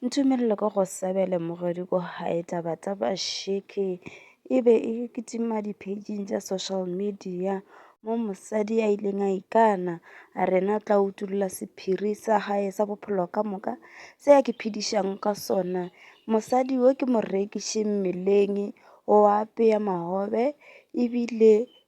Ntumelele ke go sebele mogodi ko gae taba tsa basheke e be e kitima di-pageng tša social media mo mosadi a ileng a ikana a rena tla utulla sephiri sa gae sa bophelo ka moka se ya ke phedišang ka sona mosadi yo ke mo rekiše mmeleng o apeya magobe ebile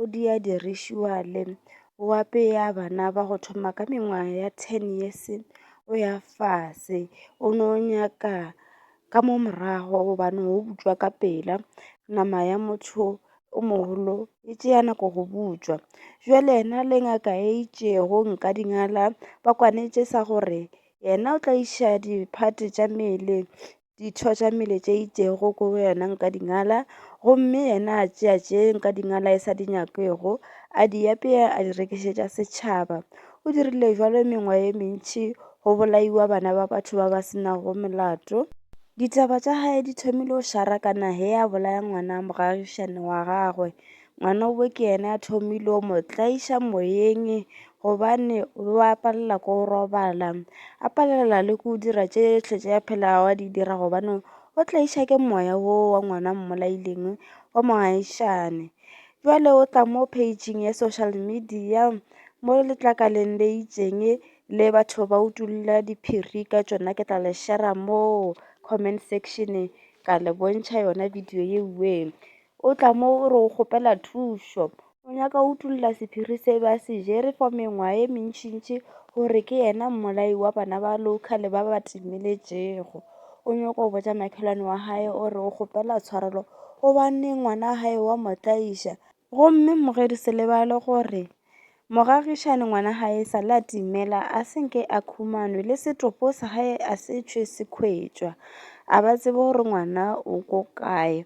o di a dirišiwa le o apeya bana ba go thoma ka mengwaga ya ten years o ya fase. O no nyaka ka mo morago gobane o butswa ka pela nama ya motho o mogolo e tšeya nako go butswa. Jwale yena le ngaka e itšego nka dingala ba kwanetše sa gore yena o tla iša di-part tša mmele ditho tša mmele tše itšego ko go yena nka di ngala, gomme yena a tšea tše nka di ngala e sa di nyakego, a di apea a di rekišetša setšhaba. O dirile bjalo mengwa ye mentši go bolaiwa bana ba batho ba ba se nago molato. Ditaba tša gagwe di thomile go šara ka nageng, a bolaya ngwana mogagišane wa gagwe Ngwana o ke ene a thomile o mo tlaiša moyeng gobane o be a palela ko robala, a palela le ko dira tše tšhle tše a phelago a di dira gobane o tlaiša ke moya wo wa ngwana mmolaileng wa mogaešane. Bjale o tla mo page-ing ya social media mo letlakaleng le itšeng le batho ba utolla diphiri ka tšona ke tla le share-ra mo comment section ka le bontšha yona video yeo. O tla mo o re o kgopela thušo. O nyaka go utolla sephiri se ba se jere for mengwaga ye mentšintši gore ke yena mmolai wa bana ba local ba ba timeletšego. O nyoko go botša makhelwane wa gae o re o kgopela tshwarelo gobaneng ngwana wa gae wa mo tlaiša. Gomme mmogedi se lebale gore Mogagišani ngwana gae e sale a timela a senke a khumanwe le setopo sa gae a se tšhwe se khwetšwa a ba tsebe gore ngwana o ko kae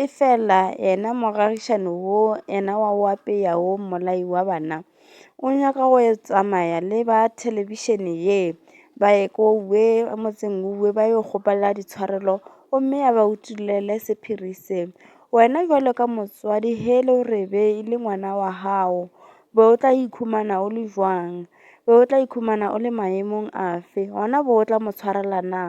e fela yena mogagišani wo yena wa o apeya wo mmolai wa bana o nyaka go tsamaya le ba thelebišene ye ba ye ko we motseng wo ba yo kgopela ditshwarelo gomme a ba utollele sephiri se. Wena jwalo ka motswadi he le re be e le ngwana wa hao, be o tla ikhumana o le jwang? Be o tla ikhumana o le maemong afe? Gona bo o tla mo tshwarela na?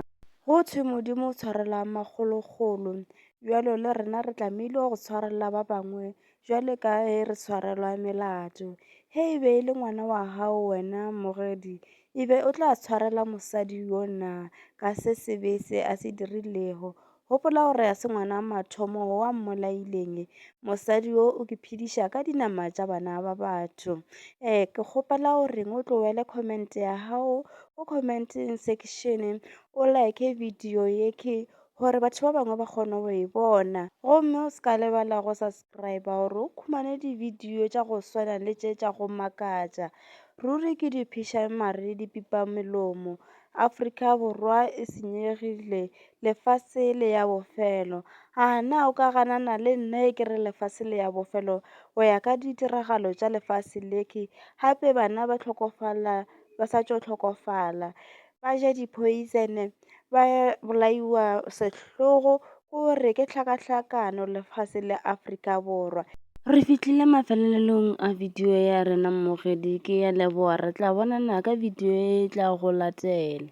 Go thwe Modimo o tshwarela magologolo, jwalo le rena re tlamehile go tshwarela ba bangwe jwalo ka he re tshwarelwa melato. He e be e le ngwana wa hao wena mogedi, e be o tla tshwarela mosadi yo na ka se sebe se a se dirilego? Gopola gore ga se ngwana wa mathomo wa mmolaileng. Mosadi yo o ke phediša ka dinama tša bana ba batho. Eh, ke kgopela gore o tlowele comment ya gago go commenting section o like video ye ke gore batho ba bangwe ba kgone go e bona gomme o se ka lebala go subscribe gore o khumane dividio tša go swana le tše tša go makatša ruri ke dipheša mare dipipa melomo afrika borwa e senyegile lefase le ya bofelo. A na o ka ganana le nna e ke re lefase le ya bofelo go ya ka ditiragalo tša lefase le ke gape bana ba tlhokofala ba sa tšo tlhokofala ba ja di poison ba bolaiwa sehlogo go re ke tlhakahlakano lefase le Afrika Borwa. Re fihlile mafelelong a video ya rena mmogedi ke ya leboa re tla bonana ka video e tla go latela.